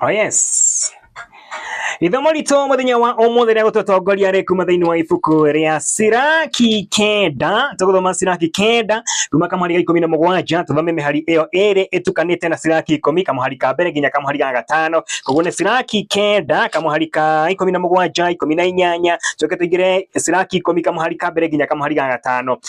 Oh yes. Ithomo ritũ mũthenya wa ũmũthĩ rĩa gũtũtongoria rĩ kuma thĩinĩ wa ibuku rĩa Siraki kenda tũgũthoma Siraki kenda kuma kamũhari ga ikũmi na mũgwanja tũthome mĩhari ĩyo ĩrĩ ĩtukanĩte na Siraki ikũmi kamũhari ka mbere nginya kamũhari ga gatano koguo nĩ Siraki kenda kamũhari ka ikũmi na mũgwanja ikũmi na inyanya tũke tũingĩre Siraki ikũmi kamũhari ka mbere nginya kamũhari ga gatano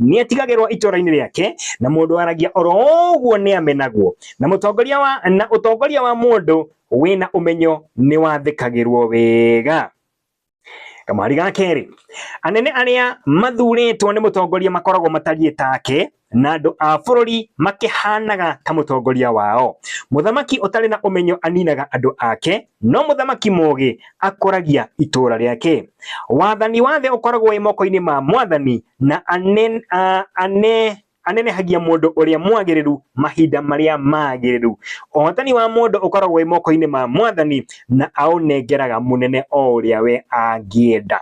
nĩetigagĩrwo itũũra-inĩ rĩake, na mũndũ waragia oro ũguo nĩamenagwo, na mũtongoria wa na ũtongoria wa mũndũ wĩna ũmenyo nĩwathĩkagĩrwo wega. Kamari ga kerĩ, anene arĩa mathurĩtwo nĩ mũtongoria makoragwo matariĩ take, na andũ a bũrũri makĩhanaga ta mũtongoria wao. Mũthamaki ũtarĩ na ũmenyo aninaga andũ ake, No mũthamaki mũũgĩ akũragia itũũra rĩake. Wathani wa thĩ ũkoragwo wĩ moko-inĩ ma mwathani, na anen, a, ane, anenehagia mũndũ ũrĩa mwagĩrĩru mahinda marĩa magĩrĩru. Ũhotani wa mũndũ ũkoragwo wĩ moko-inĩ ma mwathani, na aũnengeraga mũnene o ũrĩa we angĩenda.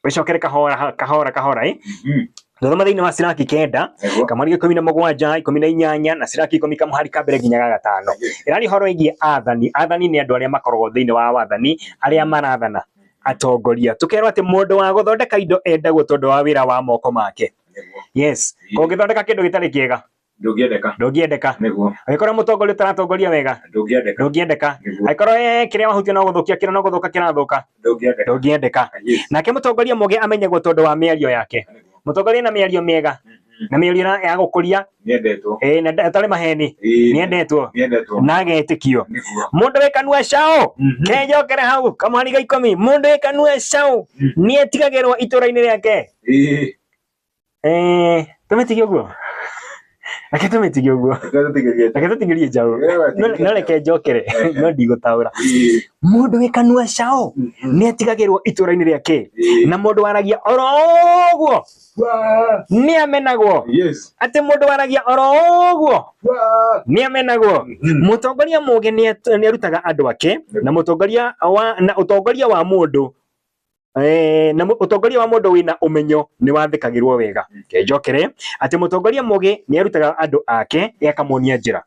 wĩcokere kahora kahora kahora ĩ Mhm. thoma thĩinĩ wa ciraki kenda Nĩguo. kamweri ikũmi na mũgwanja ikũmi na inyanya na ciraki ikũmi kamũhari ka mbere nginya ga gatano ĩrarĩ horo ĩgiĩ athani athani nĩ andũ arĩa makoragwo thĩinĩ wa wathani arĩa marathana atongoria tũkerwo atĩ mũndũ wa gũthondeka indo endagwo tondũ wa wĩra wa moko make Nĩguo. yes kũngĩthondeka kĩndũ gĩtarĩ kĩega ndũngĩendeka ndũngĩendeka nĩguo agĩkorwo mũtongoria ũtaratongoria wega ndũngĩendeka ndũngĩendeka Nĩguo. agĩkorwo eh, kĩrĩa wahutia no gũthũkia kĩrĩa no gũthũka kĩrathũka ndũngĩendeka ndũngĩendeka Yes. nake mũtongoria mũgĩ amenyagwo tondũ wa mĩario yake Nĩguo. mũtongoria na mĩario mĩega Mhm. na mĩario na- ya gũkũria nĩendetwo eh, na nda- atarĩ maheni Ĩĩ, nĩendetwo nĩendetwo na agetikio nĩguo mundu wi kanua cao Mhm. kejokere hau kamwariga ikumi mundu wi kanua cao Mhm. nietigagirwo itura-ini riake Ĩĩ, Eh, tũmĩtige ũguo reke tũmĩtige ũguo reke tũtigĩrie njaũ No- no reke njokere no ndigũtaũra mũndũ wĩ kanua caũ nĩ atigagĩrwo itũra-inĩ rĩake na mũndũ waragia oro ũguo nĩ amenagwo atĩ mũndũ waragia oro ũguo nĩ amenagwo mũtongoria mũgĩ nĩ at- nĩ arutaga andũ ake na mũtongoria wa na ũtongoria wa mũndũ Eh, na utongoria wa mundu wina umenyo ni wathikagirwo wega ke njokere ati mutongoria mugi ni arutaga andu ake akamonia njira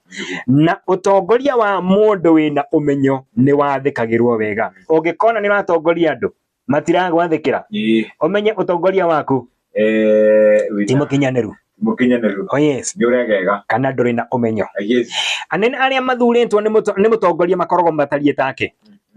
na utongoria wa mundu wina umenyo ni wathikagirwo wega ungikona ni watongoria andu matiragwathikira umenye utongoria waku Eh, wina. timukinyanĩru Mũkinyanĩru. oh yes Nĩ ũregega. kana ndũrĩ na ũmenyo Ah, yes. anene arĩa mathurĩtwo nĩ mũto- nĩ mũtongoria makoragwo matariĩ take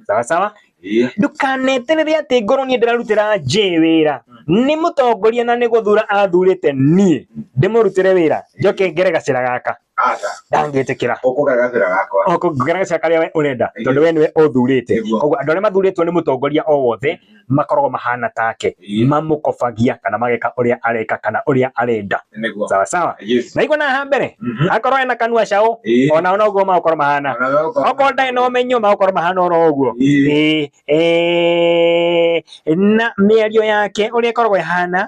sawa sawa Eh, ndũkaneterere atĩ ngorwo niĩ ndĩrarutĩra njĩ wĩra nĩ mũtongoria na nĩ gũthura athurĩte niĩ ndĩmũrutĩre wĩra njoke ngere gacĩra gaka Aca. ndangĩtĩkĩra Ũkũga gacĩra gakwa. o kũngĩgera gacĩra karĩa we ũrenda tondũ we nĩwe ũthurĩte Nĩguo. koguo andũ arĩa mathurĩtwo nĩ mũtongoria o wothe makoragwo mahana take Ĩĩ. mamũkobagia kana mageka ũrĩa areka kana ũrĩa arenda Nĩguo. sawa sawa Yes. na igua na haha mbere Mhm. akorwo ena kanua caũ Ĩĩ. ona ona ũguo magũkorwo mahana Ona we ũkona- okorwo ndarĩ na ũmenyo magũkorwo mahana oro ũguo Ĩĩ. Ĩĩ, ĩĩ, na mĩario yake ũrĩa ĩkoragwo ĩhana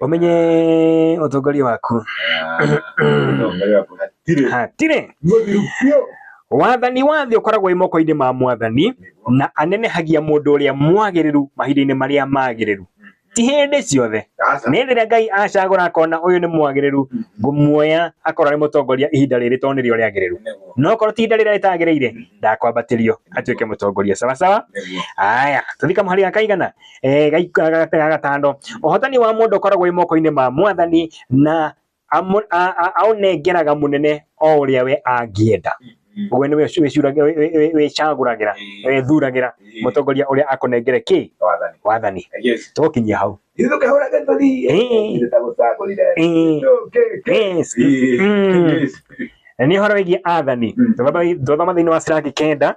umenye utongoria waku Utongoria waku hatirĩ. hatirĩ Mũthiru biũ. wathani wa thĩ ũkoragwo wĩ moko-inĩ ma mwathani Nĩguo. na anenehagia mũndũ ũrĩa mwagĩrĩru mahinda-inĩ marĩa magĩrĩru ti hĩndĩ ciothe Aca. nĩ rĩrĩa ngai acagũra akona ũyũ nĩ mwagĩrĩru ngũmuoya akorwo arĩ mũtongoria ihinda rĩrĩ tondũ nĩrĩo rĩagĩrĩru Nĩguo. no korwo ti ihinda rĩrĩa rĩtagĩrĩire ndakwambatĩrio atuĩke mũtongoria sawasawa Nĩguo. aya tũthika mũhari gakaigana eh, gaika- ga- ga gatano ũhotani wa mũndũ ũkoragwo wĩ moko-inĩ ma mwathani na amu- a- a- aũnengeraga mũnene o ũrĩa we angĩenda Mm. ũguo nĩwe ũci- wĩcuraga- wĩ- wĩ- wĩ- wĩcagũragĩra Eh, wĩthuragĩra eh, mũtongoria ũrĩa akũnengere kĩ wathani. wathani Yes. tũkinyia hau Ithuĩ tũkĩhũraga tũthiĩ. Eh. Ithuĩ tagũcagũrire. Eh, Tũkĩ- kĩ- yes. Eh, Mm. yes. nĩ ũhoro wĩgiĩ athani Mm. twathoma thĩinĩ wa ciraki kenda